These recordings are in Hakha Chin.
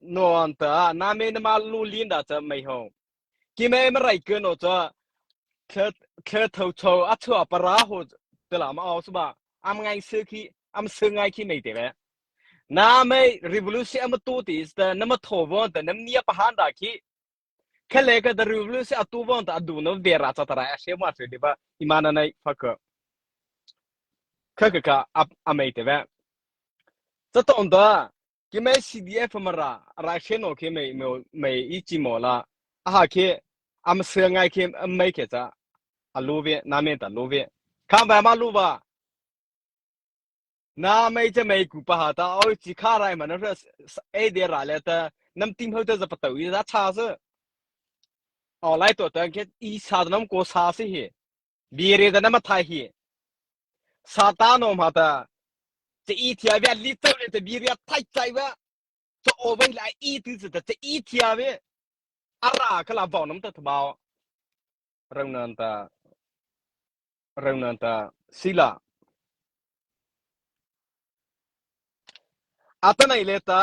nuan ta na me na ma lu lin da cha mai ho ki me ma rai ke no cha thle thle tho cho a chua para ho te la ma au suba am ngai se khi am se ngai khi nei te be na me revolution am tu ti is ta na ma tho bo ta nam nia pa han da khi khale ka the revolution atu bon ta adu no vera cha tara she ma se de ba imana nai phak kha ka ka amai te be จะต้องตัว kimai CDF mara raikhe no ke mai mai i chimo la a ha ke am sel ngai ke mai ke cha alu ve na me ta lu ve kha ba ma lu ba na mai che mai ku pa ha ta oi chi kha rai man ra e de ra le ta nam tim ho ta za pa tau i za cha su o lai to ta ke i sa nam ko sa si hi bi re da na mathai hi sa ta no ma ta te i thia ve li ta ve te bi re thai chai ve cho o vai lai i ti se ta te i thia ve ara kala bau nam ta thbao rang nan ta rang nan ta sila atanai le ta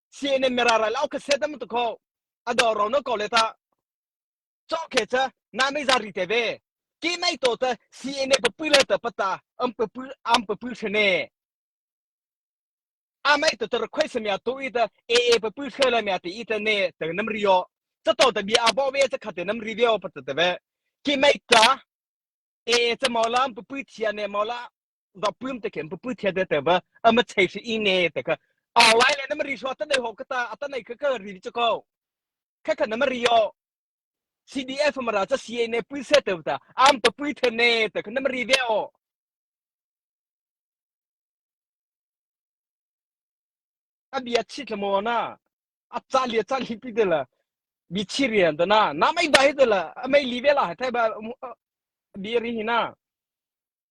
CNN mera ral au khaset tam to kho ador ro no ko le ta cho khe cha na me za ri te ve ki mai to ta CNN papu le ta pata am papu am papu shene amai to ta request mya to i ta AA papu she la mya ti i ta ne ta nam rio cha to ta bi abo ve cha khate nam ri ve o pat ta ve ki mai ta AA cha mola papu thia ne mola do pum te kem pu thia de te ba ama chei shi i ne te ka a lai le nam ri sho ta nei ho ka ta ata nei ka ka ri chu ko ka ka nam ri o CDF mara cha CA ne pui se te ta am to pui the ne te ka nam ri ve o abia chit la mo na acha lia cha li pi de la bi chi rian da na na mai dai de la mai li ve la hai thai ba bi ri hi na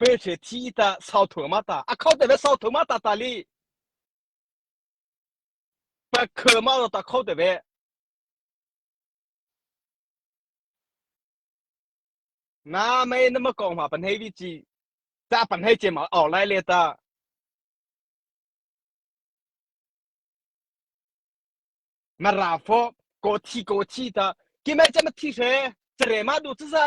Hmeichhe thi ta sau thur ma ta a kho te ve sau thur ma ta ta li pakhel ma ro ta kho te ve na mei na ma kong ma pan hei vi chi ta pan hei che ma or lai le ta na ra fo ko thi ko thi ta ki mai che ma thi she chre ma du chu za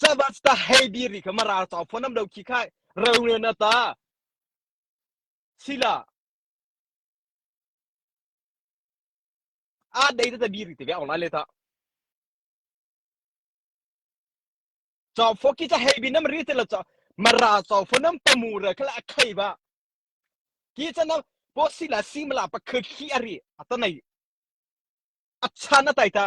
Caba ta hei bi ri kha maral tau phon am do khi khai ro ne na ta sila a dei ta bi ri te bia online le ta cho pho ki cha hei bin nam ri te la cho mara cho pho nam pamu ra khala khai ba ki cha nam po sila simla pa kha khi ari atanai achan na tai ta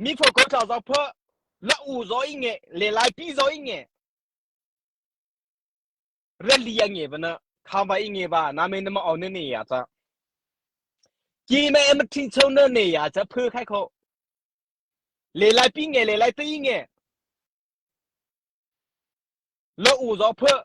Mikhual ko tlau zau phuah, la u zaw i nge, le laipi zaw i nge, rali a nge bana, khama i nge ba, namen na ma on na ne ya ta. Ki me em thi chau na ne ya cha phu khai kho. Le laipi nge, le laipi nge. La u zaw phuah,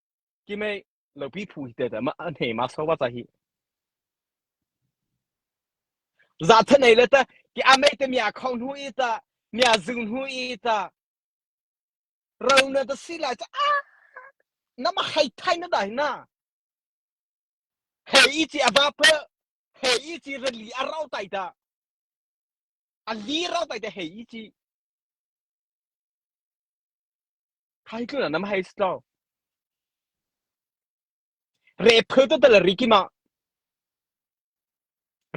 Kihmei, lopi phu hi tete mah an hei mak so wa ca hi. Za than ei le ta ki amei te mia khong hnu i ta mia zung hnu i ta ro na ta si lai ta a na ma hai thai na dai na hei i chi ava pe hei i chi rali a rau tai ta a li rau tai te hei i chi Hai tlun ah nam hai si lo. Re pheu to tal ri kim ah.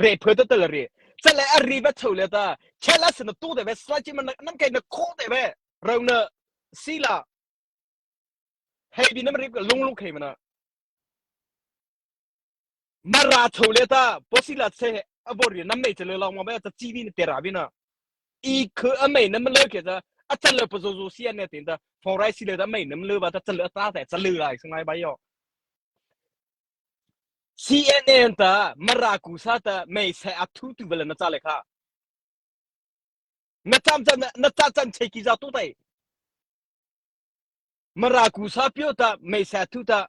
Re pheu to tal ri. Chat le a ri va cheu le ta. Chat la sin na tu te ve slai chi man nam kai na kho te ve. Rau na si la. Hei bi nam rip ka lung lung khei mana. Na ra cho le ta posila se a bor na mei chale long ma ba ta chi bi na tera bi na i khu a mei na ma lo ke ta a chal lo pazo zo sia ne tin ta phong rai si le ta mei na ma lo ba ta chal ta ta chal lai sangai ba yo CNN ta maraku sa ta mei se a thu tu bela na cha le kha na cham chan na cha chan che ki za tu tai maraku sa pyo ta mei se thu ta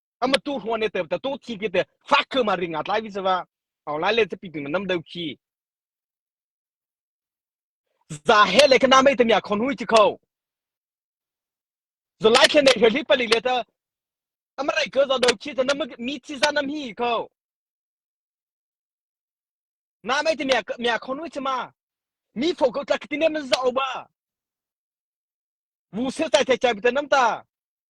ama tu hruan ne te ta to thi ke te fak khe ma ringa tlai vi sewa au lai le te ping nam deu khi za he le kana mai te mya khon hui chi kho zo lai khe ne heli pali le ta amarai ke zo deu khi ta nam mi chi za nam hi kho na mai te mya mya khon hui chima mi pho ko ta kitinem za oba bu se tai tai cha bi ta nam ta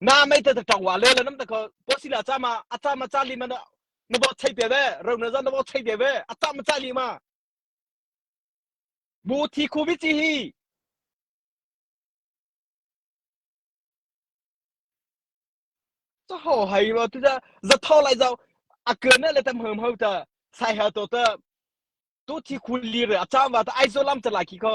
na mei te tawng wa le la nam ta ko ko si la cha ma a cha ma cha li ma na na bo chei pe ve ro na zan na bo chei pe ve a cha ma cha li ma bu thi khu bi chi hi cho ho hai ro tu ja za tho lai zau a kឿna le tam hëm hau ta sai ha to ta tu thi khu li re a cha wa ta ai zo lam ta lai ki ko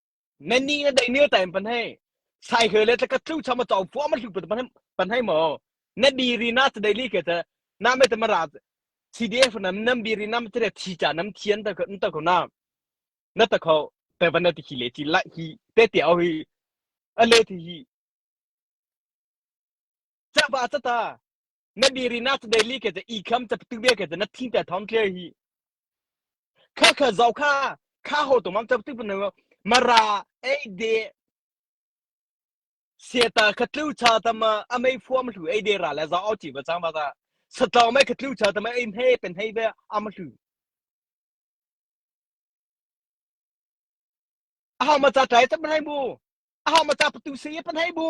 Nanni na dei mil time pan hei. Sai khơi le tlakat chu chama chong phuah ma hluk pan pan hei mo. Na di ri na ta dei li ke ta. Na me ta ma ra CDF nam nam bi ri nam tere thi cha nam thian ta ko ta ko na. Na ta ko pe van na ti khi le chi lai hi te te au hi ale thi hi. Cha ba ta ta. na diri nak daily ke te i kham ta tu be ke te na thin te thon tle hi kha kha zau kha kha ho to mang ta tu ne mara ei de seta kha tlu cha ta ma amei form hlu ei de ra la za o chi ba chang ba ta satlaw mai ka tlu cha ta ma ei he pen hei be am hlu a ha ma cha tai ta pan hei bu a ha ma cha pa tu se pan hei bu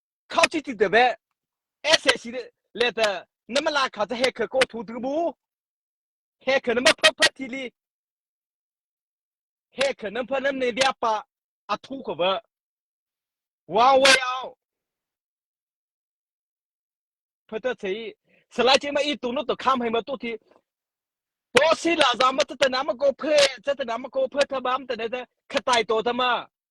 khao chi ti te be SAC le te na mala kha cha he kha ko thu tu bu he kha na ma pha pha thi li he kha nam pha nam ne bia pa a thu ko ba wa way out phata chei salai che ma i tu no to kham hai ma tu thi to si la za ma ta na ma ko phe cha ta na ma ko phe tha bam ta ne ta khatai to ta ma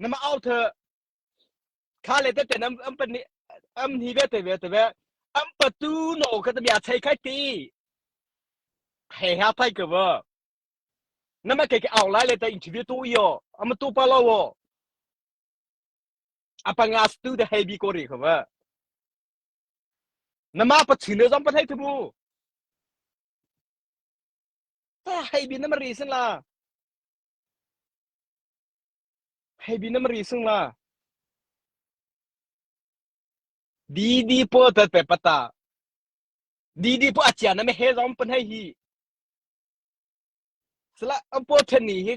Na ma au tha kha le tete an an pan am ni ve te ve te ve am patu no ka ta bia chai khai ti he ha pai ka wa na ma ke ke au lai le ta interview tu yo am tu pa lo wo apanga stu de he bi ko ri ka wa na ma pa chin zam pa thai thu bu ta he bi na ma reason la Hei bi na mari sung la. Didi pawl tat pe pata. Didi pawl a chia na me he zong pan hei hi. Sala an pawl chen ni hi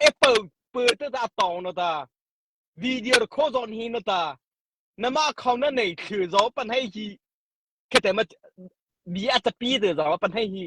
apple pe te ta tong no ta. Video ro kho zon hi no ta. Na ma khong na nei thlir zo pan hei hi. Khete ma bi a tapi de zo pan hei hi.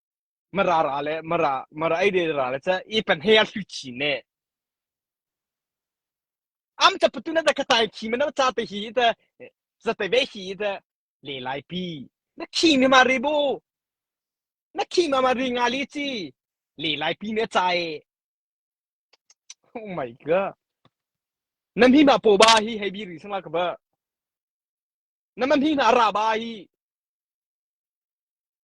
Mara ra le mara mara ei de ra le cha i pan he a hlu chi ne. Am ta patu na da ka tai khi mana cha te hi ta za te ve hi ta le lai pi. Na khi mi ma ri bu. Na khi ma ma ri nga li chi le lai pi ne chai. Oh my god. Nam hi ma po ba hi hei bi ri sama ka ba. Na man hi na ra ba hi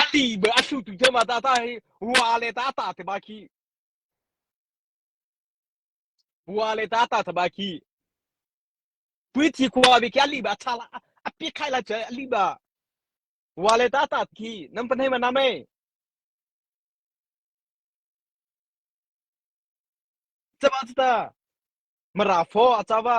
A li be a hlutu te ma ta ta hi wa le ta ta te ma khi wa le ta ta te ma khi tui thi khua bi kya li ba cha la a pi khai la cha li ba wa le ta ta khi nam pan hei ma nam ei chama ta ma ra fo a cha ba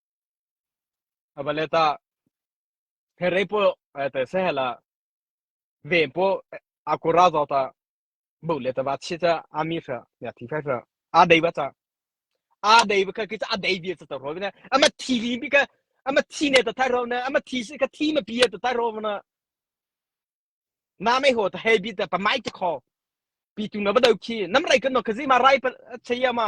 Abalet ah pherei pawl te sehel ah ven pawl akura zau ta bu le ta va chi ta ami fa ya thi fa fa a dei ba ta a dei ba ka ki ta a dei bi ta ta ro na ama thi li bi ka ama thi ne ta thai ro na ama thi ka thi ma pi ta thai ro na na mai ho ta he bi ta pa mai ta kho pi tu na ba dau khi nam rai kan no ka zi ma rai pa che ya ma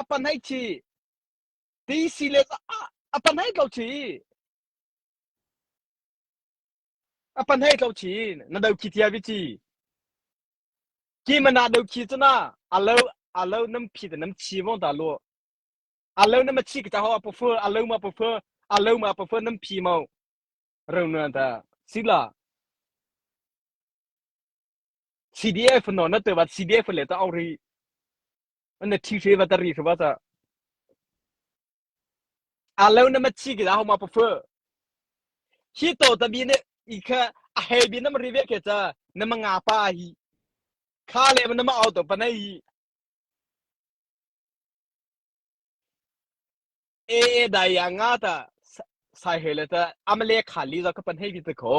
a panai thi ti silet a panai tlo thi a panai tlo thi na do ki tia vi chi ki mana do ki chu na alo alo nam phi da nam chi vong ta lo alo nam chi ka ta ho pa fu alo ma pa fu alo ma pa fu nam phi mau rong na ta sila CDF no na te wa CDF le ta ong ri na thi hre wa ta ri hre wa ta a lo na ma chi ki da ho ma prefer hi to ta bi ne i kha a he bi na ma ri ve ke ta na ma nga pa hi kha le na ma au to pa nei e e dai ya nga ta sai he le ta amale khali za ka pan he bi te kho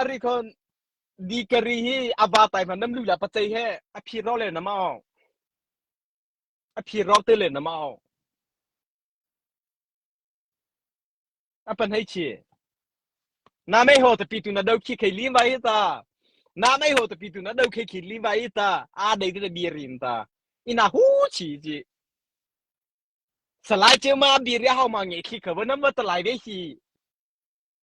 A ri khon dikari hi a va tai hman nam lu la pacei he a phi ro le nama au a phi ro te le nama au a pan hei chi na mei ho te pi tu na do khi khei li vai ta na mei ho te pi tu na do khi khi li vai ta a dei te bi rin ta ina hu chi ji salai che ma bi ria hau ma nge khi ka vanam wa talai ve hi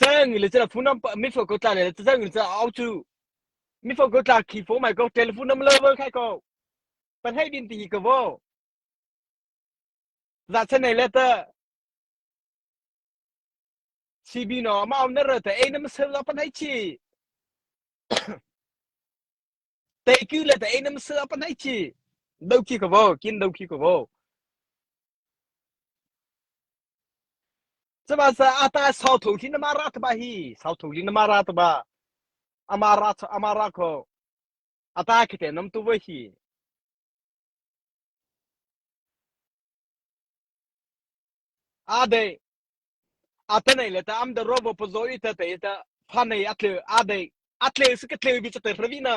Cang le cana phun ram mi fo ko tla le cang le cana au chu mi fo ko tla khi fo mai ko telephone nam lo bol khai ko pan hei bin ti hi ko vo za chan nei le ta CB no ma om na ra ta ei nam sel la pan hei chi te ku le ta ei nam sel pan hei chi dau ki ko vo kin dau ki ko vo Sihmanhseh a ta sau thung khi na ma ra taba hi sau thung khi na ma ra taba ama ra ama ra ko a ta khi te nam tu voi hi a dei a ta nei le ta am da robo pazo i ta te ta pha nei a tle a dei a tle su ke tle bi ta te ravi na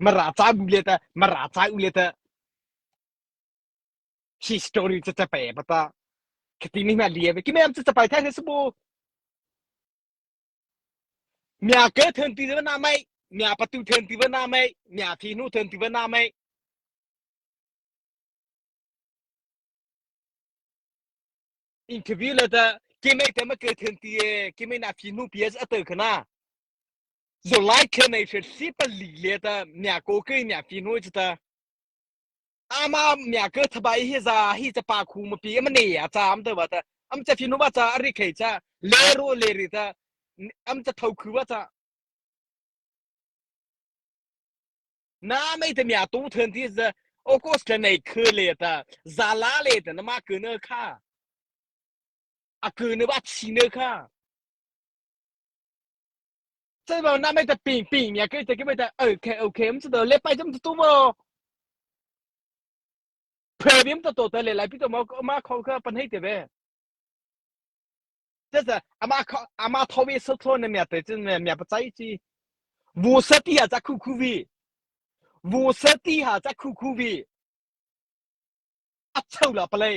Mara ca bu le ta mara ca u le ta hi story cha cha pe pa ta khati mi ma lie ve ki mem cha cha pai thai se bu mya ke thon ti na mai mya patu thon ti na mai mya thi nu thon ti na mai interview le ta ki mai te ma ke thon ti e ki mai na phi nu ps ato khana Zulai khen ai hret si pali le ta mya ko ke mya fi no chu ta ama mya ke thabai hi za hi cha pa khu ma pi ma ne ya cha am ta ba ta am cha finu ba cha ari khei cha le ro le ri ta am cha thau khu ba cha na mai ta mya tu thën ti za August khen ai khe le ta za la le ta na ma ke ne kha a ke ne ba chi ne kha Cai bao na mai ta ping ping mia kai ta ki mai ta okay okay um to le pai jam tu mo previm to to ta le lai pi to mo ma kho ka pan hei te be just ama ama thowi so tho ne mia te chin me mia pa chai chi vu sati ha cha khu khu vi vu sati ha cha khu khu vi a chau la palai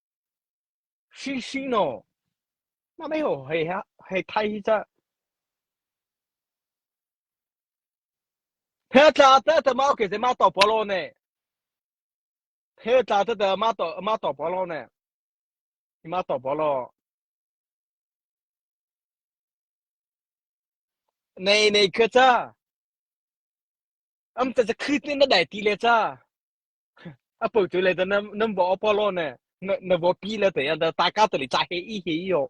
Si si naw, mah mei ho hei thai hi cah. Phe tla te te ma okay zeima to polo ne. Phe tla te te ma to ma to polo ne. Ima to polo. Nei nei kha cha. Am ta cha khit ni na dai ti le cha. a pau tu le ta nam nam bo apollo ne na bo pi le te da ta ka to li cha he i he yo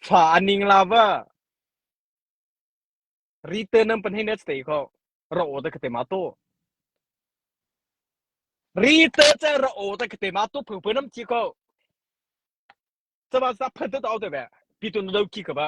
fa aning la ba ri te nam pan he net stay ko ro o da ka te ma to ri te che ro o da ka te ma to phu phu nam chi ko cha ba sa phan te to te be pi tu no ki ka ba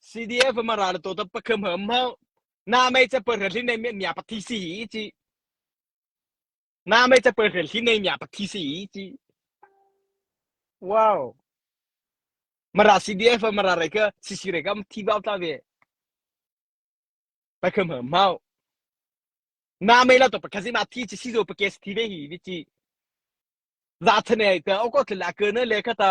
CDF ma ral to ta pakham ham ho na mai cha per hlin nei mia pa thi si hi chi na mai cha per hlin nei mia pa thi si hi chi wow mara CDF ma ra re ka sisi re ka thi bao ta ve pakham ham ho na mai la to pa khazima thi chi sizo pa kes thi ve hi vi chi za thane ta o ko thla la ke ne le khata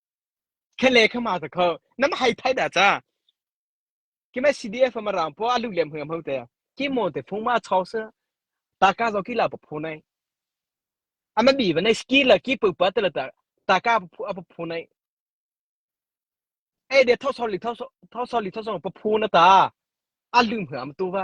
Khahle khama ta kho nam hai thai da cha kima CDF ma ram po alu lem hngam ho te ki mo te phung ma chok sa ta ka zo ki la pa phu nai ama bi ba nai skill la ki pu pa ta la ta ta ka phu apa phu nai e de tho sol li tho so tho sol li tho so pa phu na ta alu hngam tu ba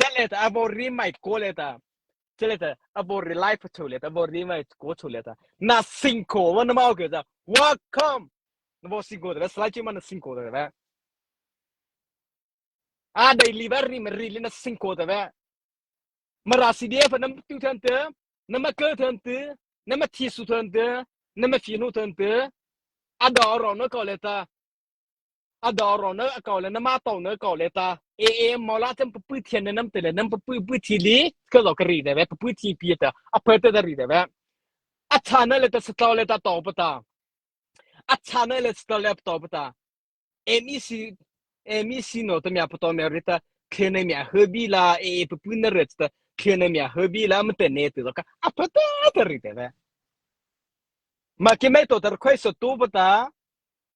Chalet a bo ri mai ko le ta. Chalet a bo ri lai phu le ta bo ri mai ko chu le ta. Na sing ko wa na mau ke ta. Welcome. Na bo sing ko da slai chi ma na sing ko da ba. A dai li ba ri ma ri le na sing ko da ba. Mara CDF nam tu than te. Na ma kal than te. Na ma thi su than te. Na ma fi nu than te. A da ro no ko le ta. A dawrawn na a kau le na ma to na kau le ta e e mola tem pui thian ne nam te le nam pui pui thi li ka lo ka ri de ve pui thi pi ta a phe te da ri de ve a cha na le ta stau le ta to pata a cha na le stau le to pata MEC MEC no ta mya pato me rita khene mya herbi la e e pui na ret ta khene mya herbi la ma te ne te ka a phe te da ri de ve ma ki mai to tar khoi so tu pata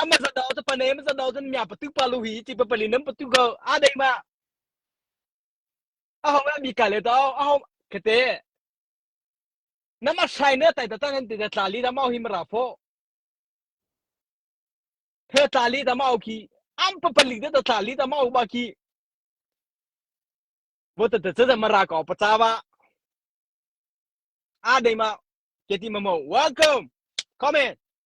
ama zat dao ta pane ma zat dao tan mya patu pa lu hi ti pa pali nam patu go a dei ma a hong mi ka le dao a hong khate nama sai ne tai ta tan han ti da tla li da mau hi mara pho he tla li da mau ki am pa pali da tla li da mau ba ki vô ta ta ta mara ko pa cha wa a dei ma keti ma mo welcome come in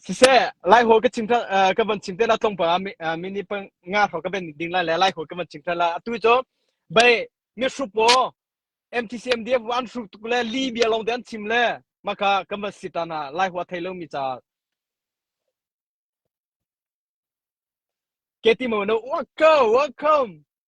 Siseh, Laihawl ka ching ka van ching te la tlong pa mi ni nga hro ka ben ding lai le Laihawl ka van ching tha la atu cho bai mi hrup wo MTC MDF an hrup tuk le li bia long te an chim le maka ka van si ta na Laihua thei lo mi cha Keti mo no welcome welcome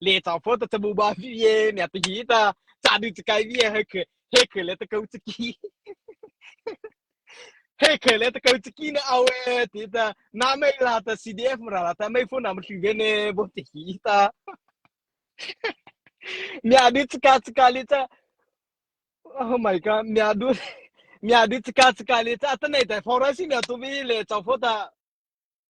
le ta pho ta tamu ba vi ye ne ta hi ta cha du chi kai vi he khe he khe le ta kau chi ki he khe le ta kau chi ki na au e ti ta na mai la ta CDF ra la ta mai phone na ma thlu ve ne bo ti hi ta mya du chi ka chi ka le ta oh my god mya du mya du chi ka chi ka le ta ta nei tai phora si ne tu vi le ta pho ta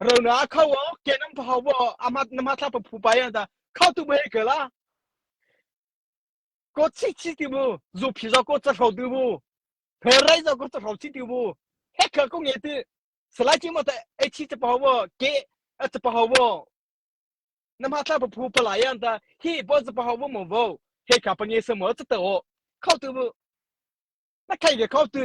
Rona kho o kenam tho bo amat nama thla pa phu pai ata kho tu be ke la ko chi chi ti bu zu phi zo ko cha hro tu bu phe rai zo ko cha hro chi ti bu he kha ko nge ti slai chi ma ta e chi cha pa bo ke a cha pa bo nama thla pa phu pa lai anta hi bo cha pa bo mo bo he ka pa nge sa mo cha to kho tu bu na kai ke kho tu